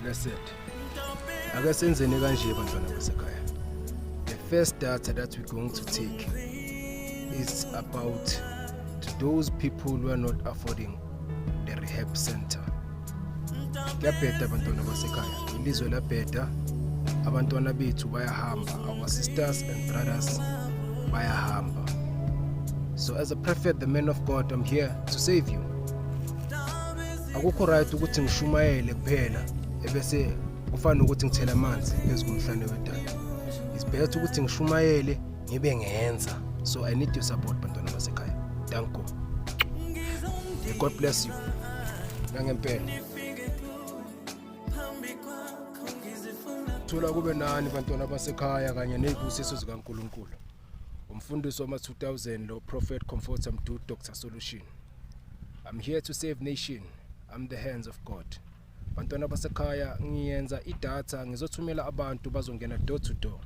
Blessed. Ake senzeni kanje bantwana basekhaya. The first data that we're going to take is about to those people who are not affording the rehab center. Kuyabheda abantwana basekhaya. Ilizwe labheda. Abantwana bethu bayahamba. Our sisters and brothers bayahamba. So as a prophet, the man of God, I'm here to save you. akukho right ukuthi ngishumayele kuphela ebese kufana nokuthi ngithela amanzi phezu komhlane wedada it's better ukuthi ngishumayele ngibe ngenza so i need your support bantwana basekhaya thank god god bless you nangempela thola kube nani bantwana basekhaya kanye nezibusiso zikaNkuluNkulu umfundisi wama-2000 lo prophet comforter mdu dr solution i'm here to save nation i'm the hands of god bantwana basekhaya ngiyenza idatha ngizothumela abantu bazongena door to door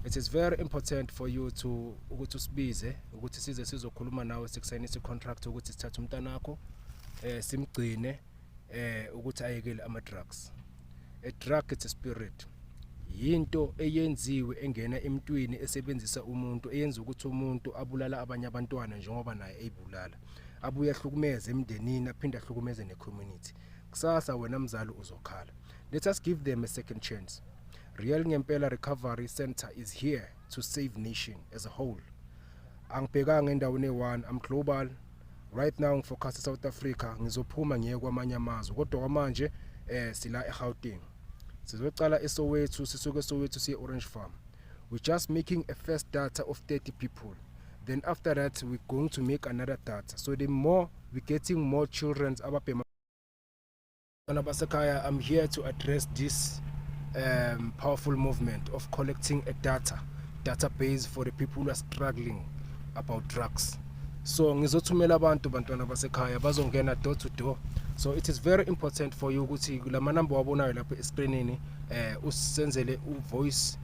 it is very important for you to ukuthi usibize ukuthi size sizokhuluma nawe sikusayinisa i-contract ukuthi sithathe umntanakho um eh, simgcine um ukuthi ayekele ama-drugs A drug it's a spirit. Yinto eyenziwe engena emntwini esebenzisa umuntu eyenza ukuthi umuntu abulala abanye abantwana njengoba naye eyibulala. Abuye ahlukumeze emndenini aphinde ahlukumeze ne community. Kusasa wena mzali uzokhala. Let us give them a second chance. Real Ngempela Recovery Center is here to save nation as a whole. Angibhekanga endaweni eyi-one, I'm global. right now ngifocus South Africa ngizophuma ngiye kwamanye amazwe kodwa kwamanje eh sila eGauteng sizocala eSoweto sisuke eSoweto siye Orange Farm we just making a first data of 30 people then after that we going to make another data so the more we getting more children ababhema Bana basekhaya I'm here to address this um, powerful movement of collecting a data database for the people who are struggling about drugs so ngizothumela abantu bantwana basekhaya bazongena door to door so it is very important for you ukuthi lamanamba wabonayo lapha escreenini eh usenzele uvoice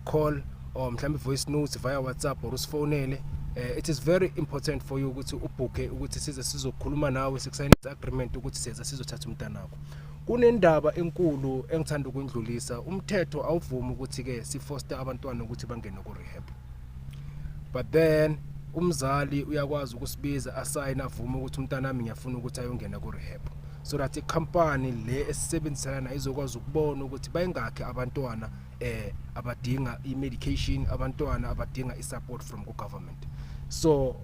call or mhlawumbe voice notes via WhatsApp or usifonele uh, it is very important for you ukuthi ubhukhe ukuthi size sizokhuluma nawe sikusayina agreement ukuthi siza sizothatha umntana wakho kunendaba enkulu engithanda ukundlulisa umthetho awuvumi ukuthi ke sifoster abantwana ukuthi bangene ku rehab but then umzali uyakwazi ukusibiza asayina avume ukuthi umntana wami ngiyafuna ukuthi ayongena ku rehab so that icompany le esisebenzisana nayo izokwazi ukubona ukuthi bayingakhe abantwana eh abadinga i-medication abantwana abadinga i-support from ku-government so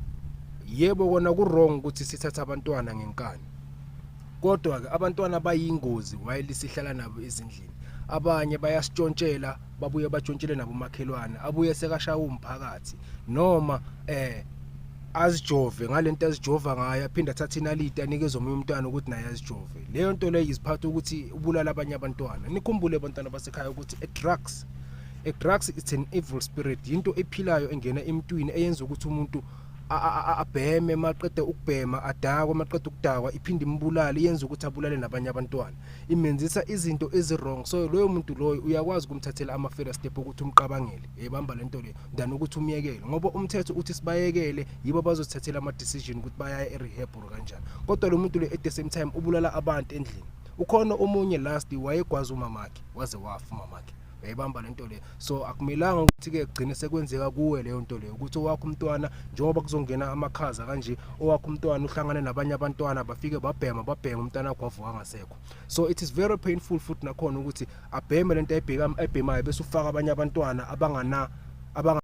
yebo kona ku-wrong ukuthi sithathe abantwana ngenkani kodwa-ke abantwana bayingozi while sihlala nabo ezindlini abanye bayasitshontshela babuye batshontshele nabomakhelwane abuye sekashaya umphakathi noma eh azijove ngalento azijova ngayo aphinde athathe inaliti anikeze omunye umntwana ukuthi naye azijove leyo nto leyo iziphatha ukuthi ubulala abanye abantwana nikhumbule abantwana basekhaya ukuthi e-drugs e-drugs it's an evil spirit yinto ephilayo engena emntwini eyenza ukuthi umuntu abheme maqede ukubhema adakwe maqede ukudakwa iphinde imbulale yenza ukuthi abulale nabanye abantwana imenzisa izinto ezi wrong so loyo muntu loyo uyakwazi ukumthathela ama first step ukuthi umqabangele ebamba lento le than ukuthi umyekele ngoba umthetho uthi sibayekele yibo abazothathela ama decision ukuthi bayaya e rehab or kanjani kodwa lo muntu le at the same time ubulala abantu endlini ukhona omunye last wayegwaza umamakhe waze wafa umamakhe yayibamba lento le so akumelanga ukuthi ke gcine sekwenzeka kuwe leyo nto leyo ukuthi owakho umntwana njengoba kuzongena amakhaza kanje owakho umntwana uhlangane nabanye abantwana bafike babhema babhema umntwana wakho wavuka ngasekho so it is very painful futhi nakhona ukuthi abheme lento ayibheka ayibhemayo bese ufaka abanye abantwana abangana abanga